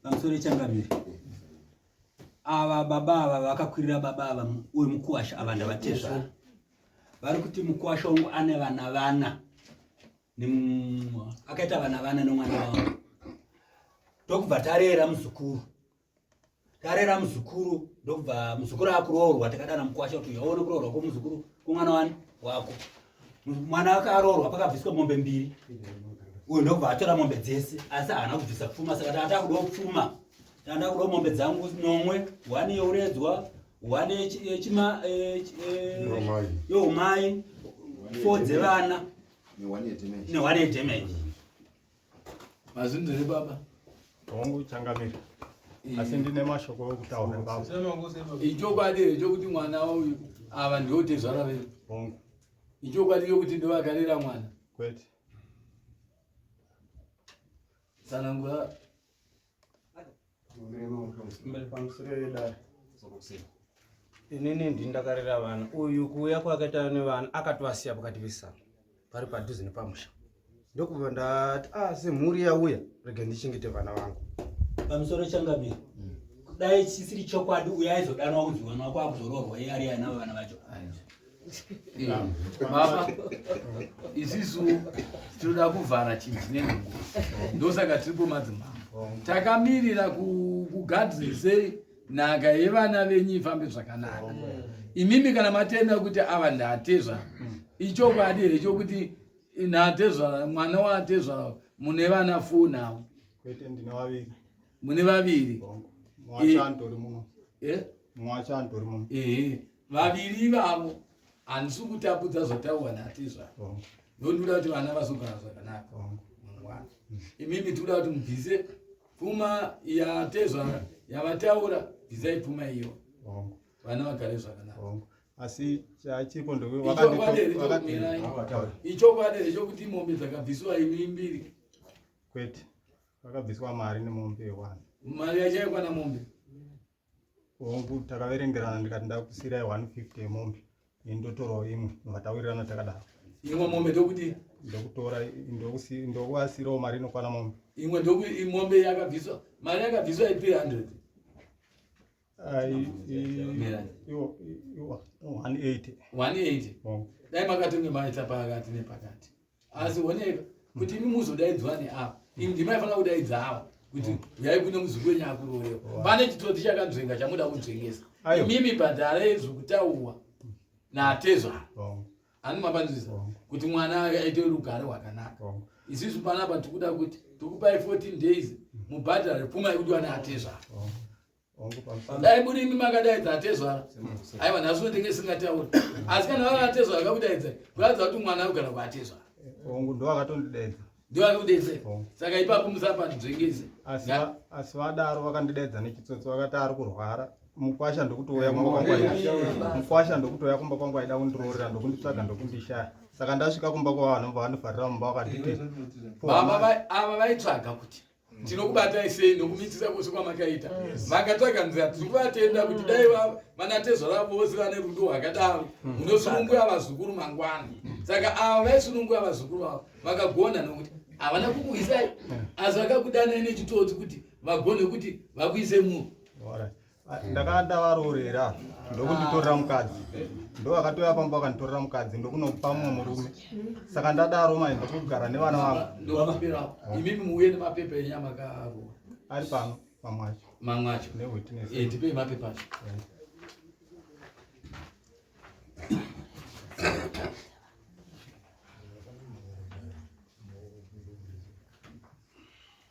pamusoro ichangamire ava baba ava vakakwirira baba ava uyu mukuwasha ava ndavatezvara vari kuti mukuwasha wangu ane vana vana akaita vana vana nomwana wavo ndokubva tarera muzukuru tarera muzukuru ndokubva muzukuru akuroorwa takadana mukwasha kuti uyaone kuroorwa kwomuzukuru kwomwana wani wako mwana wake aroorwa pakabviswa mombe mbiri uyu ndokubva atora mombe dzese asi haana kubvisa pfuma saka tata kudo pfuma tanda kudo mombe dzangu nomwe wani youredzwa wani yechima eh, eh, youmai fo dzevana newani yedamage Mazvinzi ri baba. Hongu changamira. Eh. Asi ndine mashoko okutaura baba. Ichokwadi here chokuti mwana uyu ava ndiwo tezvara vedu? Hongu. Ichokwadi yokuti ndovakarera mwana? Kwete. Tsanangura inini ndini ndakarera vana uyu kuuya kwakaita nevana akatovasiya pakati vesana pari padhuze nepamusha ndokubva ndati a ah, semhuri yauya rega ndichengete vana vangu pamusoro changamira hmm. kudai chisiri chokwadi uyo aizodanwa kunzi vana wako akuzoroorwa iye ari anavo vana vacho baba isisu tinoda kuvhara chinji nenungu ndosaka tiri pomadzimambo takamirira kugadrisei nhaka yevana venyu ifambe zvakanaka imimi kana matenda kuti ava ndatezva ichokwadi here chokuti natezvara mwana watezvara mune vana fuu navo mune vaviri vaviri ivavo handisi kutapudza zvatauwa natizva ndondoda kuti vana vazogara zvakanaka mangwana imimi tikuda kuti mubvise pfuma yatezva yavataura bvisai pfuma iyo vana vagare zvakanaka asi chachiko ndoichokwadi here chokuti mombe dzakabvisiwa imi mbiri kwete Vakabviswa mari nemombe one. Mari yacho yaikwana mombe. Hongu takaverengerana ndikati ndakusirai 150 yemombe indotorawo imwe vakataurirana takadaro. Imwe mombe ndokuti ndokutora ndokuasirawo mari inokwana mombe. Imwe ndokuti mombe yakabviswa mari yakabviswa i 300. dai makatonge maita pakati nepakati asi oneka kuti imi muzodaidzwa neava imi ndimaifanira kudaidza ava kuti uyai kune muzukuru wenyu akurorewa pane chitoti chakanzvenga chamuda kunzvengesa imimi bhadhara ezvokutaurwa natezvara ani mapanzvisa kuti mwana aite rugare rwakanaka isisu panapa tikuda kuti tikupai 14 days mubhadhare pfuma yekudiwa neatezvara dai muri imi makadaidza atezvara aiwa nhasi unotenge isingatauri asi kana vava atezvara akakudaidza kuratidza kuti mwana akugara kuatezvara hongu ndo akatondidaidza ndiwo akakudaidza saka ipapo musapanzvengeze asi vadaro vakandidaidza nechitsotsi vakati ari kurwara mukwasha ndokutouya kumba kwangu mukwasha ndokutouya kumba kwangu aida kundiroorera ndokunditsvaga ndokundishaya saka ndasvika kumba kwavanhu vanofarira mumba vakatiti ava vaitsvaga kuti tinokubatai sei nokumitisa kwose kwamakaita makatsvaga nzira tiri kuvatenda kuti dai vanatezvara vose vane rudo rwakadaro mm. munosununguya vazukuru mangwana saka ava vaisununguya vazukuru avo vakagona nokuti havana kukuisai asi vakakudanai nechitodzi kuti vagone kuti vakuise munhu ndakanga ndavaroorera ndokunditorera mukadzi ndo akatouya pamba akanditorera mukadzi ndokunopa mumwe murume saka ndadaro mai ndokugara nevana vangu imimi muuye nemapepa enyama karo ari pano mamwe acho mamwe acho newitness eh, tipei mapepa acho eh.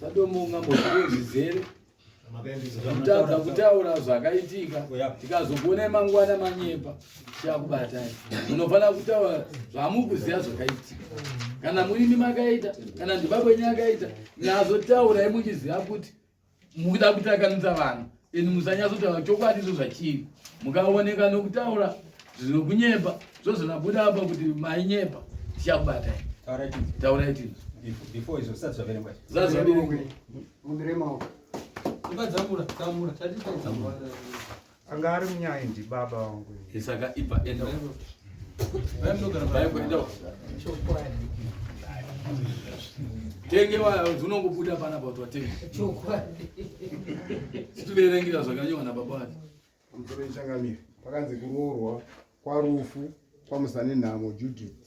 sadomo ungambozive zvizere kutadza kutaura zvakaitika tikazokuonai mangwana manyepa tichakubatai munofanira kutaura zvamukuziva zvakaitika kana murimi makaita kana ndibabwenyu akaita nazotaurai muchiziva kuti mukuda kutakanisa vanhu and musanyatsotaura chokwadi izvo zvachiri mukaoneka nokutaura zvinokunyepa zvozvinabuda apa kuti mainyepa tichakubatai taurai tino before izvo zvisati zvaverengwa zvisati zvaverengwa mumiremaoko ibadzamura tamura tatitaidzamura anga ari munyaya ndi baba wangu saka ipa enda tenge unongobuda pana bauti watenge situverengera zvakanyewa nababa wati pamusoro ichangamire pakanzi kuroorwa kwarufu kwamusanenhamo judith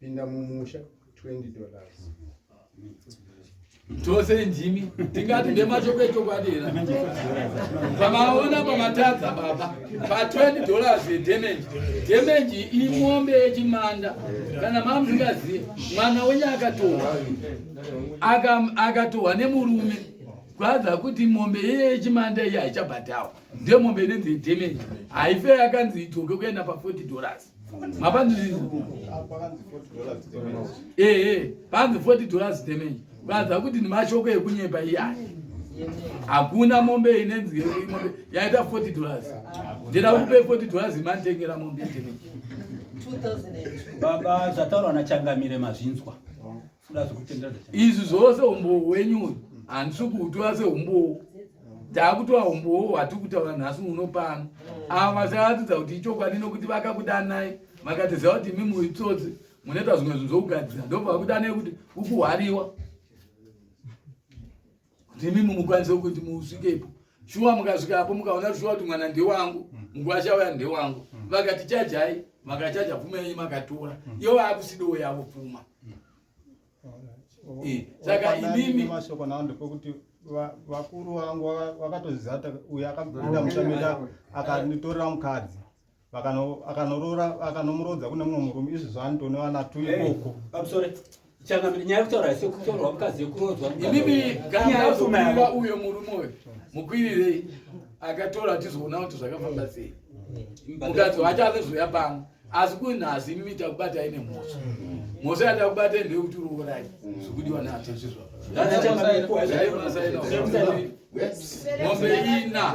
Pinda mumusha 20 dollars. Tose ndimi tingati ndemashoko echokwadi here? Pamaona pamatadza baba pa 20 dollars yedamage. Damage imombe yechimanda kana mamusingazive mwana wenye akatohwa akatohwa nemurume kwadza kuti mombe yechimanda iyi haichabhadhawa ndemombe inenzi yedamage haife yakanzi idzoke kuenda pa 40 dollars mapanzi ehe panzi 40 dollars damage vanza kuti ndimashoko ekunyepa iyaya hakuna mombe inenzi mombe yaita 40 dollars ndida kupe 40 dollars imanditengera mombe damage baba zvataurwa nachangamire mazvinzwa izvi zvose umbowo hwenyu uyu handisi kuutora seumbowo taakutora umbowo hwatiri kutaura nhasi uno pano ava vasaratidza kuti ichokwadi nokuti vakakudanai makatiziva kuti imi muitsotsi munoita zvimwe zvinhu zvokugadzira ndobva vakudanai kuti ukuhwariwa ndimi mumukwanise kuti musvikepo shuwa mukasvikapo mukaona shuwa kuti mwana ndewangu mm. mugwasha uya ndewangu mm. vakati chajai makachaja pfuma yenyu makatora mm. iyo vaakusidowo yavo pfuma eh, saka imimi mashoko nao ndepekuti vakuru vangu vakatozizata uyo akabuda mushamira akanditorera mukadzi akanorora akanomurodza kune mumwe murume izvi zvanto nevana tu ikoko pamusore changamire nyaya yekutaura ise kutorwa mukadzi yekurodzwa imimi gaauma uyo murume uyo mukwirirei akatora tizoona kuti zvakafamba sei mukadzi wacho azezoya pano asi kunhasi imimi takubata ine mhosva mhosva yatakubata ndeyekuti urorai zvikudiwa naatezvizva mombe ina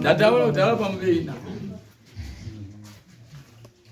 ndataura kudhara pamubeina